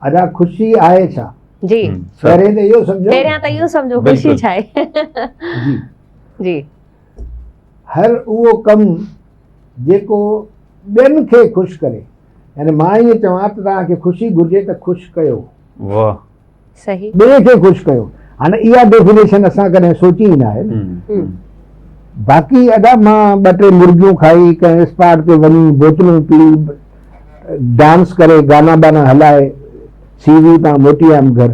ادا خوشي آهي ڇا؟ جي پهرين ته اهو سمجهو پهريان ته اهو سمجهو خوشي ڇا آهي جي جي هر اهو ڪم جيڪو ٻين کي خوش ڪري يعني مان ائين چوان ته توهان کي خوشي گهرجي ته خوش ڪيو واهه صحيح ٻئي کي خوش ڪيو هاڻي اها ڊيفينيشن اسان ڪڏهن سوچي ئي ناهي باقي ادا مان ٻه ٽي مرگيون کائي ڪنهن اسپاٽ تي وڃي بوتلون پي ڊانس ڪري گانا بانا هلائي سي وي تان موٽي آيم گهر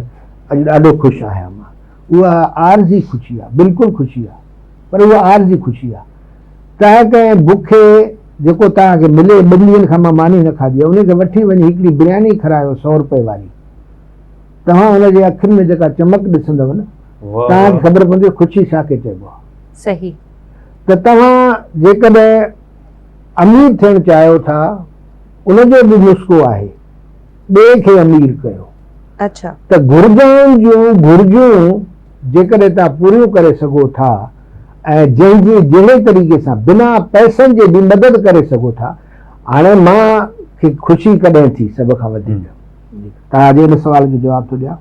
اڄ ڏاڍو خوش آهيان مان اها عارضي خوشي آهي بلڪل خوشي آهي پر اها عارضي خوشي آهي ڪنهن ڪنهن بکي جيڪو توهان کي ملي ٻن ڏينهن کان مان ماني نه کاڌي ان کي وٺي وڃي هڪڙي برياني کرايو سؤ روپئي واري توهان ان جي اکين ۾ جيڪا چمڪ ڏسندو نه توهان کي خبر پوندي خوشي ڇا کي چئبو آهي صحيح ته توهان جيڪڏهن امير ٿيڻ چاهيو ٿا ان جو به نسخو آهي ٻئي کي امير ڪيو اڇا ته گهرجائن جون گهرجون جيڪڏهن توهان پوريون ڪري سگهو ٿا ۽ جنهن جي جهڙي طريقي سان بنا پئسن جي به مدد ڪري سگهو ٿا هاڻي مان کي خوشي ڪڏهن ٿي سڀ کان وڌيڪ توهان جي ان سوال جو جواب ٿو ڏيان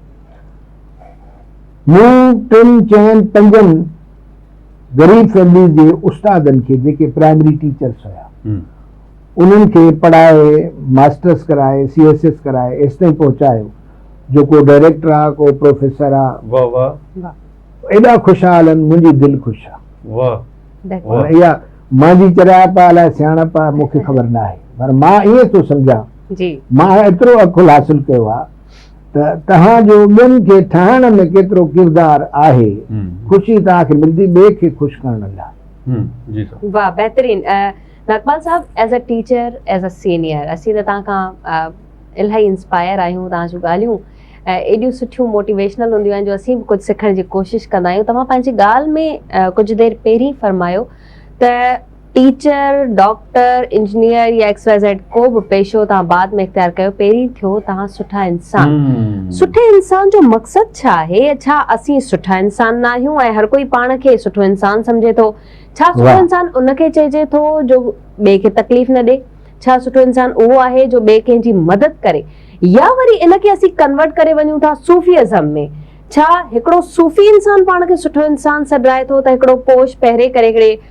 مون ٽن چئن پنجن غريب فيمليز جي استادن کي جيڪي پرائمري ٽيچرس هيا انهن کي پڙهائي ماسٽرس ڪرائي سي ايس ايس ڪرائي ايستائين پهچايو جو ڪو ڊائريڪٽر آ ڪو پروفيسر آ ايڏا خوشحال آهن منهنجي دل خوش آ هاڻي اها مانجي چرايپ آ الاء سياڻپ آ مون کي خبر ناهي پر مان ائين ٿو سمجهان مان ايترو عقل حاصل ڪيو آ ته توهان جو ٻين کي ٺاهڻ ۾ ڪيترو ڪردار آهي خوشي توهان کي ملندي ٻئي کي خوش ڪرڻ لاء. جي سر. واھ بهترين ناگپال صاحب as a teacher as a senior اسين ته توهان کان الاهي انسپائر آهيون توهان جون ڳالهيون ايڏيون سٺيون موٽيويشنل هونديون آهن جو اسين به ڪجهه سکڻ جي ڪوشش ڪندا آهيون توهان پنهنجي ڳالهه ۾ ڪجهه دير پهرين فرمايو ته ٽيچر، ڊاڪٽر، انجنيئر يا ايڪس واء زيڊ ڪو به پيشو توهان بعد ۾ اختيار ڪيو پهرين ٿيو توهان سٺا انسان. سٺي انسان جو مقصد ڇا آهي؟ ڇا اسين سٺا انسان ناهيون ۽ هر ڪوئي پاڻ کي سٺو انسان سمجهي ٿو؟ ڇا سٺو انسان ان کي چئجي ٿو جو ٻئي کي تڪليف نه ڏي؟ ڇا سٺو انسان اهو آهي جو ٻئي ڪنهن جي مدد ڪري؟ يا وري ان کي اسين ڪنورٽ ڪري وڃون ٿا صوفي ازم ۾؟ ڇا هڪڙو صوفي انسان پاڻ کي سٺو انسان سڏرائي ٿو ته هڪڙو پوش پهري ڪري هڪڙي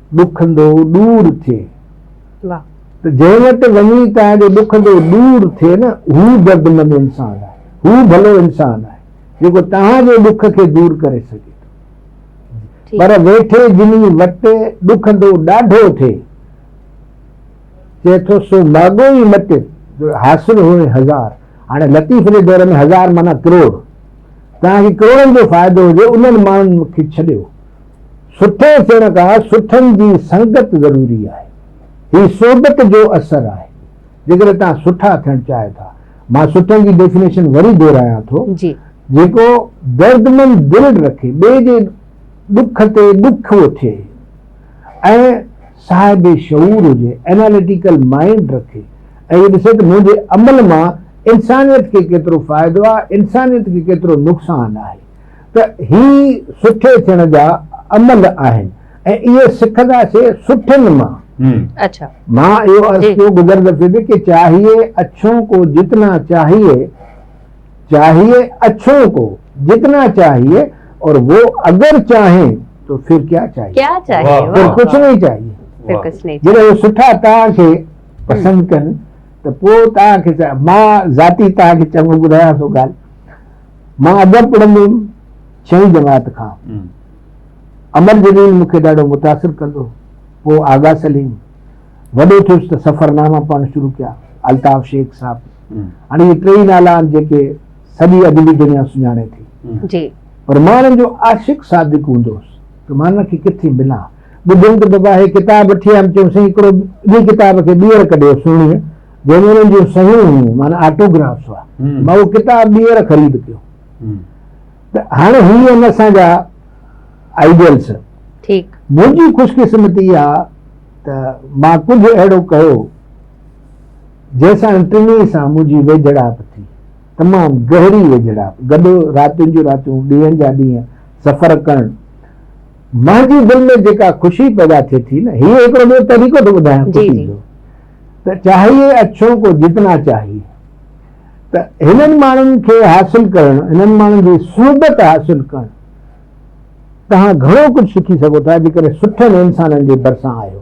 ڏکندو ڏور ٿئي ته جنهن وٽ وڃي تنهن جو ڏکندو ڏور ٿئي نه هو دردمند انسان آهي هو ڀلو انسان آهي جيڪو توهان جي ڏک کي دور ڪري سگهي ٿو پر ويٺي جني وٽ ڏکندو ڏاڍو ٿئي چئي ٿو سو ماڳو ئي مٽ جو حاصل هئي هزار هاڻي لطيف جي دور ۾ هزار معنيٰ ڪروڙ توهان کي ڪروڙن جو فائدو هجي انهن ماڻهن کي ڇڏيو سٺو ٿيڻ کان سٺن جي سنگت ضروري آهي. هي صحبت جو اثر آهي. جيڪڏهن توهان سٺا ٿيڻ چاهيو ٿا. مان سٺن جي ڊيفينيشن وري دهرايان ٿو. جيڪو دردمند دل رکي، ٻئي جي ڏک تي ڏکيو ٿئي ۽ صاحب شعور هجي، Analytical Mind رکي ۽ اهو ڏسي ته منهنجي عمل مان انسانيت کي ڪيترو فائدو آهي، انسانيت کي ڪيترو نقصان آهي. ته هي سٺي ٿيڻ جا عمل آهن ۽ اهي سکنداسين سٺن مان. مان اهو عرض ڪيو گذر دفعي به ڪي چاهيي اڇون ڪو جتنا چاهيي چاهيي اڇون ڪو جتنا چاهيي اور وو اگر چاهين تو ڦر ڪيا چاهيي ڦر ڪڇ نهي چاهيي جڏهن هو سٺا توهان کي پسند ڪن ته پوء توهان کي مان ذاتي توهان کي چڱو ٻڌايان ٿو ڳالهه مان ادب پڙهندو هيم ڇهين جماعت کان امر جليل مون کي ڏاڍو متاثر ڪندو پوء آغا سليم وڏو ٿيس ته سفرناما پڙهڻ شروع ڪيا الطاف شيخ صاحب هاڻي اهي ٽي ئي نالا آهن جيڪي سڄي ادبي دنيا سڃاڻي ٿي جي پر مان انهن جو عاشق صادق هوندو هوس ته مان انهن کي ڪٿي ملان ٻڌيم ته بابا هي ڪتاب وٺي آيم چيم سائين هڪڙو ٻي ڪتاب کي ٻيهر ڪڍيو سهڻيء جنهن ۾ انهن جون صحيحون هيون معنيٰ آٽوگرافس هئا مان اهو ڪتاب ٻيهر خريد ڪيو ته هاڻي هي آهن اسان جا آئيڊيلس منهنجي خوش قسمتي اها ته مان ڪجهه اهڙو ڪيو جنهن سان ٽنهي سان منهنجي ويجهڙائپ ٿي تمام گهري ويجهڙائپ گڏو راتين جون راتيون ڏينهن جا ڏينهن سفر ڪرڻ منهنجي دل ۾ جيڪا خوشي پيدا ٿئي ٿي نه هي هڪڙو ٻيو طريقو ٿو ٻڌايان خوشي جو ته چاهيئي اڇو ڪو جتنا چاهيئي ته هنن ماڻهن کي حاصل ڪرڻ هنن ماڻهن جي صحبت حاصل ڪرڻ توهان گهڻو ڪجهه سکي سگهو ٿا جيڪڏهن سٺن انسانن جي ڀرسان آهيو